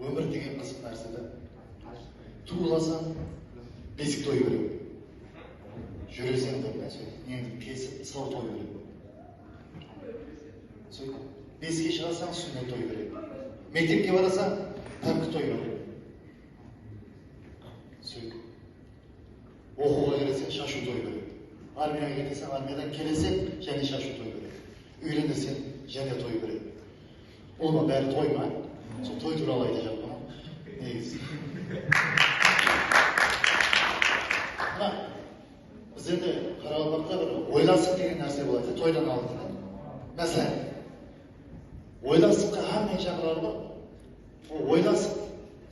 Ómir degen qızıq nárseda tuwılasań besik toy beredi, júreseń bir nárse neńdi kesip sır toy beredi, sóytip beske shıǵasań súnnet toy beredi, mektepke barasań párki toy beredi, sóytip oqıwǵa kireseń shashıw toy beredi, armiyaǵa ketesań armiyadan keleseń jáne shashıw toy beredi, úyleneseń jáne toy beredi. Bul ma bári toy ma sol toy turalı ayta jatpa negizi biraq bizlerde qaraqalpaqta bir oylansıq degen nárse boladı toydan aldın máselen oylansıqqa hámmeni shaqıralı ǵoy oylansıq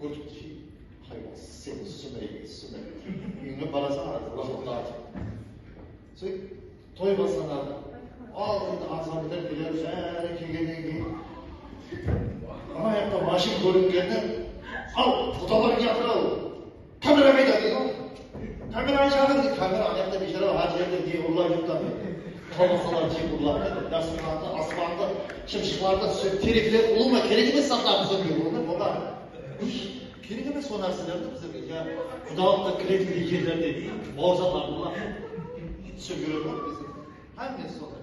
Gúrtki haywan sen súmrege súmre úyińe barasań arazı laqırdatıp sóyt toy baslanadi aldında ansambldar keler bári kelgennen keyin anayaqta mashin kóringennen al qudalar kiyatırau Kamera qayda dedi ǵoy. Kamerani shaqır dedi. Kamera anayaqta biyshara hár jerde jek urlay júripti áne. Kolbasalar jek urlap dedi. Dasturxandı, aspandı, shımshıqlardı túsirip terekler ulıwma kerek emes zatlardı túsirmege bola ma? Bola. Kerek emes sol nárselerdi bizlerge ja qudalıqqa kiretindey jerlerde bauırsalardı túsirip júredi ǵoy bizde. Hámmesi sonday.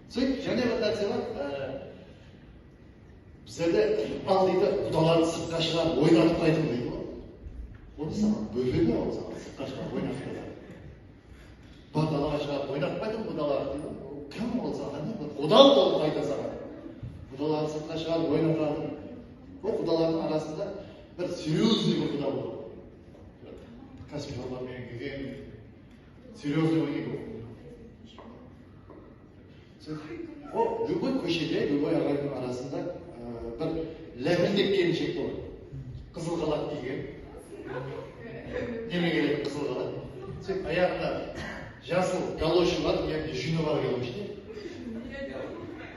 Sóytip jáne bir nárse bar, bizlerde ıqbal deydi, qudalardı sırtqa shıǵarıp oynatıpaytuǵın deydi ǵoy. Onı saǵan bóledi ma ol saǵan sırtqa shıǵarıp oynatıpaytuǵın? Bar dalaǵa shıǵarıp oynatıpaytuǵın qudalardı deydi ǵo. Ol kim ol saǵan ne? Bir quda bolıp qayta saǵan. Qudalardı sırtqa shıǵarıp oynatadı. Ol qudalardıń arasında bir seryoznıy bir quda boladı. Kásip-ǵarba menen kelgen, Seryoznıy ego. Ol lúbıy kóshede, lúbıy aǵaydıń arasında bir lápildek kelinshek boladı. Qızıl xalat kiygen. Neme keledi qızıl xalat? Sen ayaǵında jasıl galoshi bar, uyakta júni bar galoshta.